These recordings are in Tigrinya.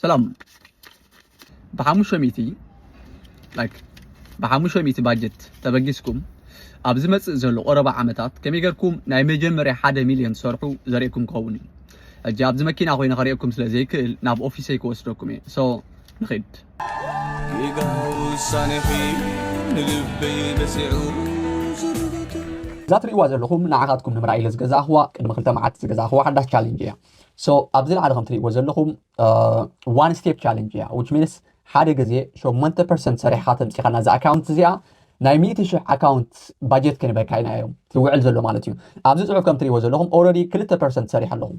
ሰላም ብሓሙሽተ ሚእቲ ላይክ ብሓሙሽተ ሚእቲ ባጀት ተበጊስኩም ኣብ ዝመጽእ ዘሎ ቆረባ ዓመታት ከመይ ጌርኩም ናይ መጀመርያ ሓደ ሚልዮን ትሰርሑ ዘርእየኩም ክኸውን እዩ ሕጂ ኣብዚ መኪና ኮይነ ከርእየኩም ስለ ዘይክእል ናብ ኦፊሰይ ክወስደኩም እየ ሶ ንኺድ ጌጋ ውሳኔኺ ንልበይ በሲዑ እዛ ትርእይዋ ዘለኹም ንዓኻትኩም ንምርኣይ ኢለ ዝገዛእኽዋ ቅድሚ ክልተ መዓልቲ ዝገዛእኽዋ ሓዳሽ ቻሌንጅ እያ ሶ ኣብዚ ላዕሊ ከም ትሪእዎ ዘለኹም ዋን ስቴፕ ቻለንጅ እያ ዊች ሚንስ ሓደ ግዜ ሸሞንተ ፐርሰንት ሰሪሕኻ ተምፂኻና እዛ ኣካውንት እዚኣ ናይ ሚእቲ ሽሕ ኣካውንት ባጀት ክንበካ ኢና እዮም ዝውዕል ዘሎ ማለት እዩ ኣብዚ ፅሑፍ ከም ትሪእዎ ዘለኹም ኦረዲ ክልተ ፐርሰንት ሰሪሕ ኣለኹም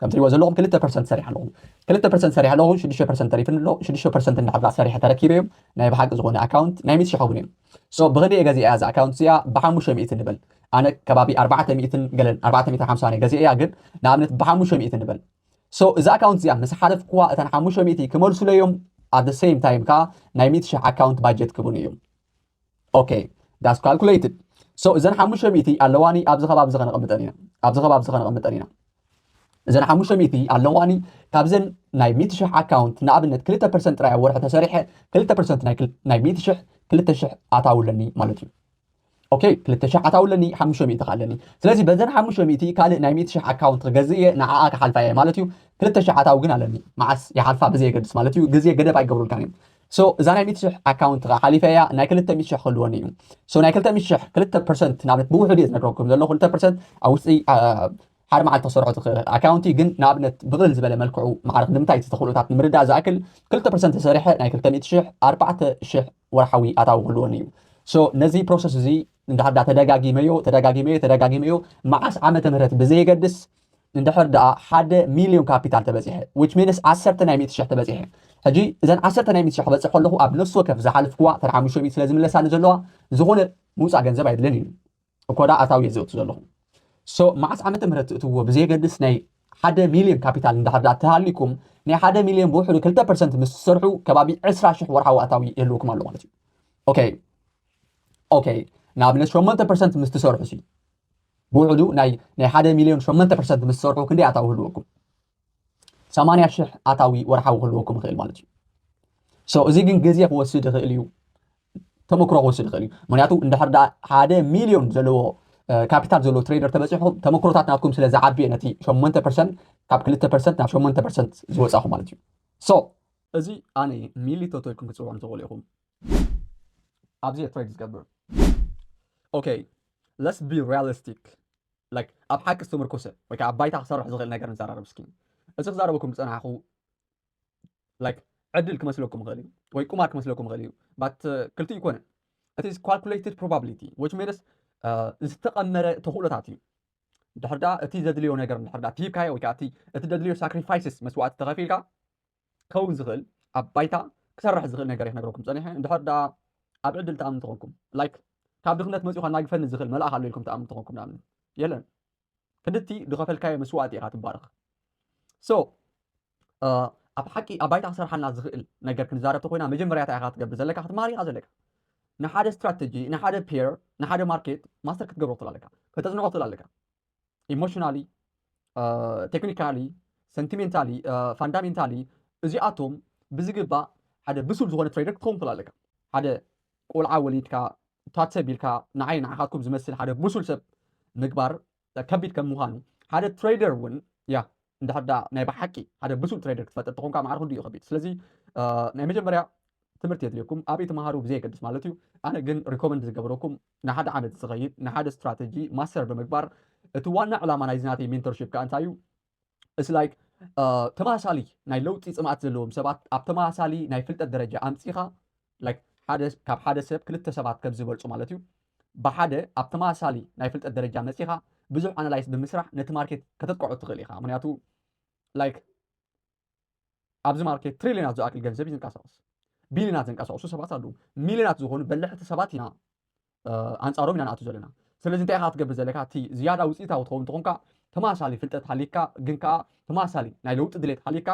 ከም ትሪእዎ ዘለኹም ክልተ ፐርሰንት ሰሪሕ ኣለኹም ክልተ ፐርሰንት ሰሪሕ ኣለኹም ሽዱሽተ ፐርሰንት ተሪፍኒ ኣሎ ሽዱሽተ ፐርሰንት እንዳሕብራ ሰሪሐ ተረኪበ እዮም ናይ ብሓቂ ዝኾነ ኣካውንት ናይ ሚእቲ ሽሕ እውን እዮም ሶ ብክንደይ ገዚኣ እዛ ኣካውንት እዚኣ ብሓሙሽተ ሚእቲ ንበል ኣነ ከባቢ ኣርባዕተ ሚእትን ገለን ኣርባዕተ ሚእትን ሓምሳ ናይ ገዜ እያ ግን ንኣብነት ብሓሙሽተ ሚእቲ ንበል ሶ እዚ ኣካውንት እዚኣ ምስ ሓለፍክዋ እተን ሓሙሽተ ሚእቲ ክመልሱለይ እዮም ኣት ዘ ሴም ታይም ከዓ ናይ ሚእቲ ሽሕ ኣካውንት ባጀት ክብኑ እዮም ኦኬ ዳስ ካልኩሌትድ ሶ እዘን ሓሙሽተ ሚእቲ ኣለዋኒ ኣብዚ ከባቢ እዚ ከነቐምጠን ኢና ኣብዚ ከባቢ እዚ ከነቐምጠን ኢና እዘን ሓሙሽተ ሚእቲ ኣለዋኒ ካብዘን ናይ ሚእቲ ሽሕ ኣካውንት ንኣብነት ክልተ ፐርሰንት ጥራይ ኣብ ወርሒ ተሰሪሐ ክልተ ፐርሰንት ናይ ሚእቲ ሽሕ ክልተ ሽሕ ኣታዊ ኣለኒ ማለት እዩ ኦኬ ክልተ ሽሕ ኣታዊ ኣለኒ ሓሙሽተ ሚእቲ ከ ኣለኒ ስለዚ በዘን ሓሙሽተ ሚእቲ ካልእ ናይ ሚእቲ ሽሕ ኣካውንት ክገዝእ እየ ንዓኣ ክሓልፋ እየ ማለት እዩ ክልተ ሽሕ ኣታዊ ግን ኣለኒ መዓስ ይሓልፋ ብዘየገድስ ማለት እዩ ግዜ ገደብ ኣይገብሩልካን እዮም ሶ እዛ ናይ ሚእቲ ሽሕ ኣካውንት ከዓ ሓሊፈ እያ ናይ ክልተ ሚእቲ ሽሕ ክህልወኒ እዩ ሶ ናይ ክልተ ሚእቲ ሽሕ ክልተ ፐርሰንት ንኣብነት ብውሕድ እየ ዝነግረኩም ዘለኹ ክልተ ፐርሰንት ኣብ ውሽጢ ሓደ መዓልቲ ክሰርሖ ዝኽእል ኣካውንቲ ግን ንኣብነት ብቕልል ዝበለ መልክዑ ማዕርኽ ንምታይ እቲ ተኽእሎታት ንምርዳእ ዝኣክል ክልተ ፐርሰንት ተሰሪሐ ናይ ክልተ ሚእቲ ሽሕ ኣርባዕተ ሽሕ ወርሓዊ ኣታዊ ክህልወኒ እዩ ሶ ነዚ ፕሮሰስ እዚ እንድሕር ዳ ተደጋጊመዮ ተደጋጊመዮ ተደጋጊመዮ መዓስ ዓመተ ምህረት ብዘየገድስ እንድሕር ደኣ ሓደ ሚልዮን ካፒታል ተበፂሐ ዊች ሚንስ ዓሰርተ ናይ ሚእቲ ሽሕ ተበፂሐ ሕጂ እዘን ዓሰርተ ናይ ሚእቲ ሽሕ ክበፅሕ ከለኹ ኣብ ነፍሲ ወከፍ ዝሓልፍኩዋ ተን ሓሙሽተ ሚእቲ ስለ ዝምለሳኒ ዘለዋ ዝኾነ ምውፃእ ገንዘብ ኣይድልን እዩ እኮዳ ኣታዊ እየ ዘእቱ ዘለኹ ሶ መዓስ ዓመተ ምህረት ትእትዎ ብዘየገድስ ናይ ሓደ ሚልዮን ካፒታል እንዳሕር ድኣ ተሃሊኩም ናይ ሓደ ሚልዮን ብውሕዱ ክልተ ፐርሰንት ምስ ትሰርሑ ከባቢ ዕስራ ሽሕ ወርሓዊ ኣታዊ ይህልውኩም ኣሎ ማለት እዩ ኦኬ ኦኬ ንኣብነት ሸሞንተ ፐርሰንት ምስ ትሰርሑ ሲ ብውሕዱ ናይ ናይ ሓደ ሚልዮን ሸሞንተ ፐርሰንት ምስ ትሰርሑ ክንደይ ኣታዊ ህልወኩም ሰማንያ ሽሕ ኣታዊ ወርሓዊ ክህልወኩም ይኽእል ማለት እዩ ሶ እዚ ግን ግዜ ክወስድ ይኽእል እዩ ተመክሮ ክወስድ ይኽእል እዩ ምክንያቱ እንድሕር ዳ ሓደ ሚልዮን ዘለዎ ካፒታል ዘለዎ ትሬደር ተበፂሑ ተመክሮታት ናትኩም ስለ ዝዓብየ ነቲ ሸሞንተ ፐርሰንት ካብ ክልተ ፐርሰንት ናብ ሸሞንተ ፐርሰንት ዝወፃኹ ማለት እዩ ሶ እዚ ኣነ ሚሊ ቶቶ ኢልኩም ክትፅውዑም ትኽእሉ ኢኹም ኣብዚ እየ ትሬድ ዝገብር ኦኬ ለስ ቢ ሪያሊስቲክ ላይክ ኣብ ሓቂ ዝተመርኮሰ ወይ ከዓ ኣብ ባይታ ክሰርሕ ዝኽእል ነገር ንዘራረብ እስኪ እዚ ክዛረበኩም ዝፀናሕኩ ላይክ ዕድል ክመስለኩም ይኽእል እዩ ወይ ቁማር ክመስለኩም ይኽእል እዩ ባት ክልቲኡ ይኮነ እቲ ካልኩሌትድ ፕሮባብሊቲ ዊች ሚንስ ዝተቐመረ ተኽእሎታት እዩ ድሕር ድኣ እቲ ዘድልዮ ነገር ድሕር ድኣ ሂብካዮ ወይ ከዓ እቲ ዘድልዮ ሳክሪፋይስስ መስዋዕቲ ተኸፊልካ ክኸውን ዝኽእል ኣብ ባይታ ክሰርሕ ዝኽእል ነገር እዩ ክነግረኩም ፀኒሐ ድሕር ድኣ ኣብ ዕድል ተኣምኑ ተኾንኩም ላይክ ካብ ድኽነት መፂኡ ከናግፈኒ ዝኽእል መልኣኽ ኣሎ ኢልኩም ተኣምኑ ተኾንኩም ንኣብነት የለን ክንድቲ ዝኸፈልካዮ መስዋእቲ ኢኻ ትባረኽ ሶ ኣብ ሓቂ ኣብ ባይታ ክሰርሓልና ዝኽእል ነገር ክንዛረብ ተኮይና መጀመርያ እንታይ ኢኻ ክትገብር ዘለካ ክትመሃር ኢኻ ዘለካ ንሓደ ስትራተጂ ንሓደ ፔር ንሓደ ማርኬት ማስተር ክትገብሮ ትኽእል ኣለካ ከተፅንዖ ትኽእል ኣለካ ኢሞሽናሊ ቴክኒካሊ ሰንቲሜንታሊ ፋንዳሜንታሊ እዚኣቶም ብዝግባእ ሓደ ብሱል ዝኾነ ትሬደር ክትኸውን ትኽእል ኣለካ ሓደ ቆልዓ ወሊድካ ታት ሰብ ኢልካ ንዓይ ንዓኻትኩም ዝመስል ሓደ ብሱል ሰብ ምግባር ከቢድ ከም ምዃኑ ሓደ ትሬደር እውን ያ እንድሕር ደኣ ናይ ብሓቂ ሓደ ብሱል ትሬደር ክትፈጥር ተኾንካ ማዕረ ክንዱ እዩ ከቢድ ስለዚ ናይ መጀመርያ ትምህርቲ የድልየኩም ኣበይ ተምሃሩ ብዘየገድስ ማለት እዩ ኣነ ግን ሪኮመንድ ዝገብረኩም ንሓደ ዓመት ዝኸይድ ንሓደ ስትራተጂ ማስተር ብምግባር እቲ ዋና ዕላማ ናይዚ ናተይ ሜንተርሽፕ ከዓ እንታይ እዩ It's like uh, ተመሳሳሊ ናይ ለውጢ ፅምኣት ዘለዎም ሰባት ኣብ ተመሳሳሊ ናይ ፍልጠት ደረጃ ኣምፂኻ like ሓደ ካብ ሓደ ሰብ ክልተ ሰባት ከም ዝበልፁ ማለት እዩ ብሓደ ኣብ ተመሳሳሊ ናይ ፍልጠት ደረጃ መፂኻ ብዙሕ ኣናላይስ ብምስራሕ ነቲ ማርኬት ከተጥቀዖ ትኽእል ኢኻ ምክንያቱ like ኣብዚ ማርኬት ትሪልዮናት ዝኣክል ገንዘብ እዩ ዝንቀሳቐስ። ቢልዮናት ዘንቀሳቕሱ ሰባት ኣለዉ። ሚልዮናት ዝኾኑ በላሕቲ ሰባት ኢና ኣንጻሮም ኢና ንኣቱ ዘለና። ስለዚ እንታይ ኢኻ ክትገብር ዘለካ እቲ ዝያዳ ውፅኢታዊ ትኸውን ትኾንካ ተመሳሳሊ ፍልጠት ሃሊካ ግን ከዓ ተመሳሳሊ ናይ ለውጢ ድሌት ሃሊካ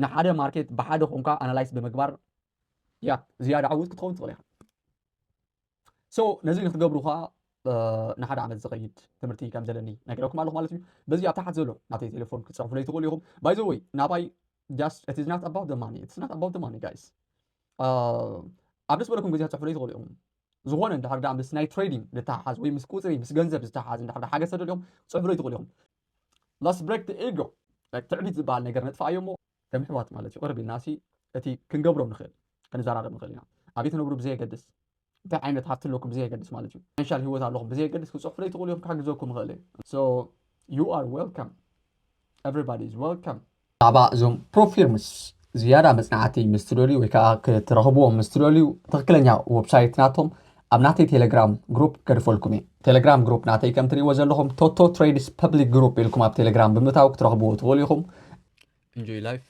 ንሓደ ማርኬት ብሓደ ኮንካ ኣናላይስ ብምግባር ያ ዝያዳ ዓውት ክትኸውን ትኽእል ኢኻ። ሶ ነዚ ንክትገብሩ ከዓ ንሓደ ዓመት ዝኸይድ ትምህርቲ ከም ዘለኒ ነገረኩም ኣለኹ ማለት እዩ በዚ ኣብ ታሕት ዘሎ ናተይ ቴሌፎን ክትፅሕፉለይ ትኽእሉ ኢኹም ባይ ዘወይ ናባይ ጃስት እቲ ዝናት ኣባውት ደማኒ እቲ ዝናት ኣባውት ደማኒ ጋይስ ኣብ ደስ በለኩም ግዜ ክትፅሕፉለይ ትኽእሉ ኢኹም ዝኾነ እንድሕር ዳ ምስ ናይ ትሬዲንግ ዝተሓሓዝ ወይ ምስ ቁፅሪ ምስ ገንዘብ ዝተሓሓዝ እንድሕር ዳ ሓገዝ ተደልዮም ክትፅሕፉለይ ትኽእሉ ኢኹም ላስ ብሬክ ኢጎ ትዕቢት ዝበሃል ነገር ነጥፋ እዮ እሞ ከም ኣሕዋት ማለት እዩ ቅርብ ኢልና ሲ እቲ ክንገብሮ ንኽእል ክንዘራረብ ንኽእል ኢና ኣብይ ትነብሩ ብዘየገድስ እንታይ ዓይነት ሃብቲ ኣለኩም ብዘየገድስ ማለት እዩ ፋይናንሻል ሂወት ኣለኹም ብዘየገድስ ክፅሑፍለይ ትኽእሉ እዮም ክሕግዘኩም ይኽእል እየ ሶ ዩ ኣር ዌልካም ኤቨሪባዲ ኢዝ ዌልካም ብዛዕባ እዞም ፕሮፊርምስ ዝያዳ መፅናዕቲ ምስ ትደልዩ ወይ ከዓ ክትረኽብዎም ምስ ትደልዩ ትኽክለኛ ወብሳይት ናቶም ኣብ ናተይ ቴለግራም ግሩፕ ገድፈልኩም እየ። ቴለግራም ግሩፕ ናተይ ከም ትርእይዎ ዘለኹም ቶቶ ትሬድስ ፐብሊክ ግሩፕ ኢልኩም ኣብ ቴለግራም ብምእታው ክትረኽብዎ ትኽእሉ ኢኹም። Enjoy life.